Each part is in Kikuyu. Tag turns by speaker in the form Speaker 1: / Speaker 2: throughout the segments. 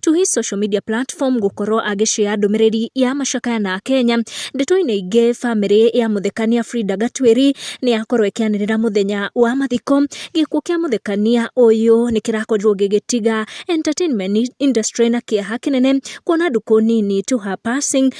Speaker 1: to his social media platform gũkorwo agĩshare ndũmĩrĩri ya macakaya na Kenya. Ndeto-inĩ ingĩ bamĩrĩ ya mũthekania Frida Gatwĩri nĩ yakorwo ĩkĩanĩrĩra mũthenya wa mathiko. Gĩkuũ kĩa mũthekania ũyũ nĩ kĩrakorirwo gĩgĩtiga entertainment industry na kĩeha kĩnene kuona ndukũ nini to her passing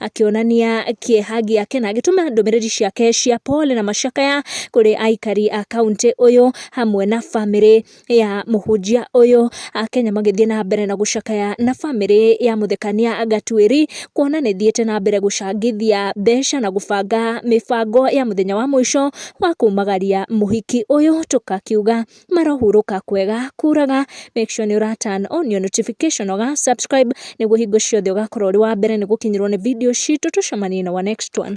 Speaker 1: akĩonania kĩeha gĩake na agĩtũma ndũmĩrĩri ciake cia pole na macakaya kũrĩ aikari a kaunti ũyũ hamwe na bamĩrĩ ya mũhunjia ũyũ. Akenya magĩthiĩ na mbere na gũcakaya na bamĩrĩ ya mũthekania Gatuĩri kuona nĩ ĩthiĩte na mbere gũcangithia mbeca na gũbanga mĩbango ya mũthenya wa mũico wa kumagaria mũhiki ũyũ tũkakiuga marohurũka kwega kuraga make sure nĩ ũra turn on your notification ũga subscribe nĩguo hingo ciothe ũgakorwo ũrĩ wa mbere nĩ gũkinyĩrwo nĩ video citũ tũcemanie na our next one